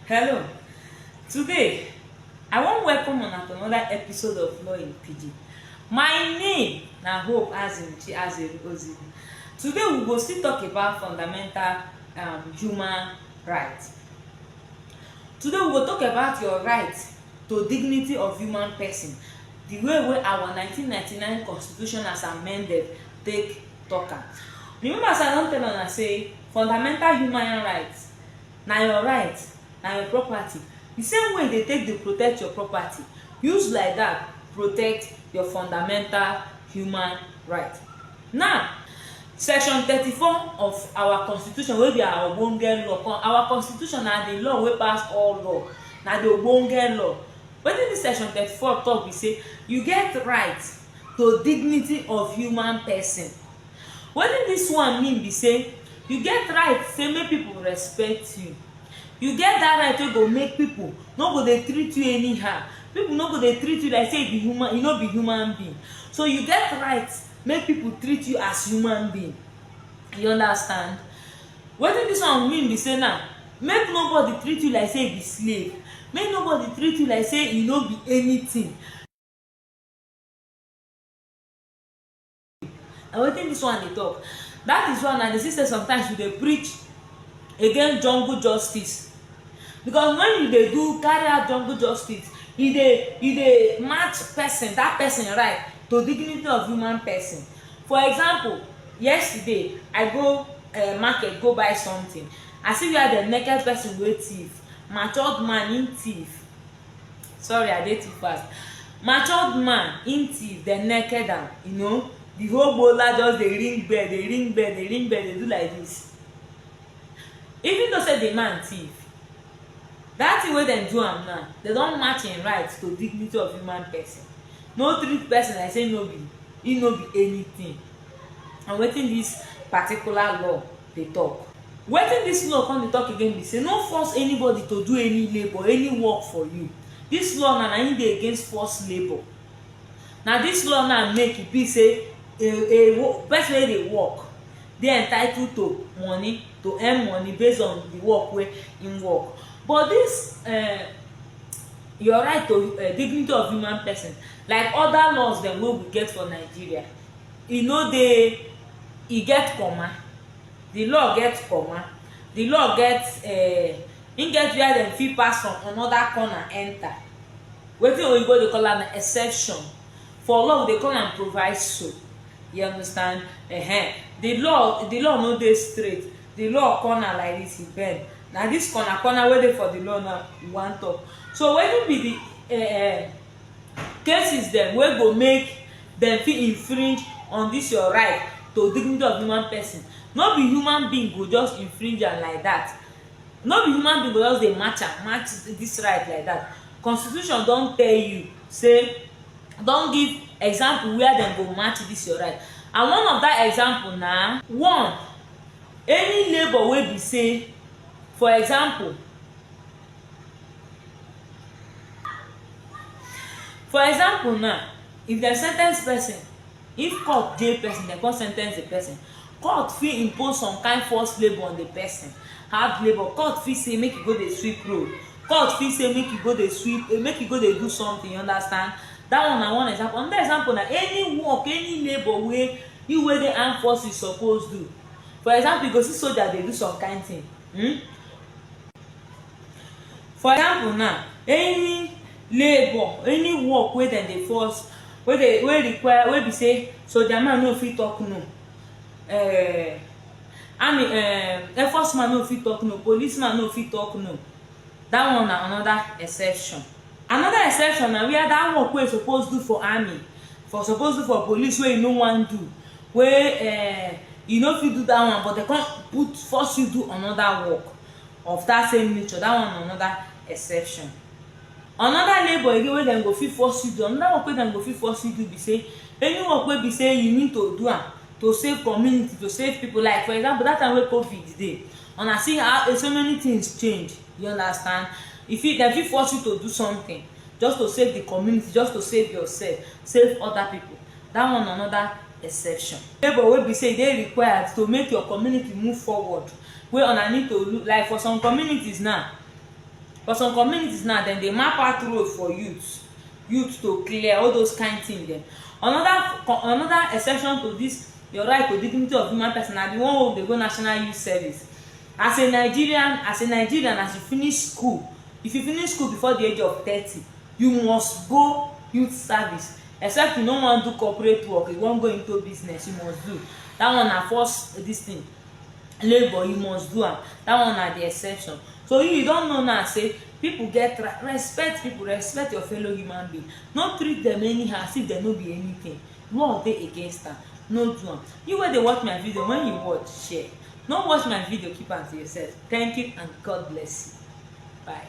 Hello. Today, I wan welcome una to another episode of Law in Pidgin. My name na Hope Azimuchi Azeru Ozigbo. Today, we go still talk about fundamental um, human rights. Today, we go talk about your right to dignity of human person, the way wey our 1999 constitution as amended take talk am. Remember as I don tell una say fundamental human rights Na your right, na your property. Di same way you dey take dey protect your property, use like dat protect your fundamental human right. Now, section thirty four of our constitution wey be our ogbonge law con our constitution na di law wey pass all law, na di ogbonge law. Wetin dis section thirty four talk be sey you get right to dignity of human person. Wetin dis one mean be say you get right say make people respect you. You get that right wey go make people no go dey treat you anyhow. People no go dey treat you like say you be human, you no be human being. So you get right make people treat you as human being. You understand? Wetin dis one mean be say now make nobody treat you like say you be slave. Make nobody treat you like say you no be anything. na wetin this one dey talk that is why na dey see say sometimes you dey preach against jungle justice because when you dey do carry out jungle justice e dey e dey match person that person right to dignity of human person for example yesterday i go uh, market go buy something i see where the naked person wey thief matured man him thief sorry i dey too fast matured man im thief dem naked am you know the whole gbola just dey ring bell dey ring bell dey ring bell dey do like this even though say the man thief that thing wey dem do am now dem don match im right to dignity of human person no treat person like say no be im no be anything and wetin this particular law dey tok. Wetin dis law come dey tok again be say no force anybody to do any labour, any work for you. Dis law now, na im dey against forced labour. Na dis law now make e be say a a wo pesin wey dey work dey entitled to money, to earn money based on di work wey im work. But dis um your right to um dignity of human pesin, like oda laws dem wey we get for Nigeria, e no dey e get comma the law get comma the law get uh, im get where dem fit pass from another corner enter wetin oyibo dey call am exception for law we dey call am proviso you understand uh -huh. the law the law no dey straight the law corner like this e bend na this corner corner wey dey for the law now we wan talk so wetin be the uh, cases dem wey go make dem fit infringe on dis your right to dignity of human person no be human being go just infringe am like dat no be human being go just dey match am match dis right like dat constitution don tell you sey don give example where dem go match dis your right and one of dat example na one any labour wey be sey for example For example now, if dem sentence person, if court jail person, dem come sentence the person, court fit impose some kind forced labour on the person, hard labour. Court fit say make you go dey sweep road, court fit say make you go dey sweep, eh, make you go dey do something, you understand? That one na one example. Another example na any work, any labour wey you wey dey armed forces suppose do. For example, you go see soldier dey do some kind thing, hmm? for example now any labour any work wey dem dey force wey dey wey require wey be say soldier man no fit talk no um army um airforce man no fit talk no police man no fit talk no that one na another exception another exception na where that work wey e suppose do for army for suppose do for police wey e no wan do wey um e no fit do that one but dem come put force you do another work of that same nature that one na another exception another labour again wey dem go fit force you do another work wey dem go fit force you do be say any work wey be say you need to do am to save community to save people like for example that time wey covid dey una see how so many things change you understand e fit dem fit force you to do something just to save the community just to save yourself save other people That one na another exception. Labour wey be say e dey required to make your community move forward, wey una need to look like for some communities now, for some communities now dem dey map out road for youth, youth to clear, all those kind thing dem. Another another exception to this your right to dignity of human person na the one wey we dey go national youth service. As a Nigerian as a Nigerian as you finish school, if you finish school before the age of thirty, you must go youth service. except you no wan do corporate work you wan go into business you must do that one na first this thing labour you must do am that one na the exception so you you don know now say people get right respect people respect your fellow human being no treat them anyhow as if dem no be anything law dey against am no do am you wey dey watch my video when you watch share no watch my video keep am to yourself thank you and god bless you bye.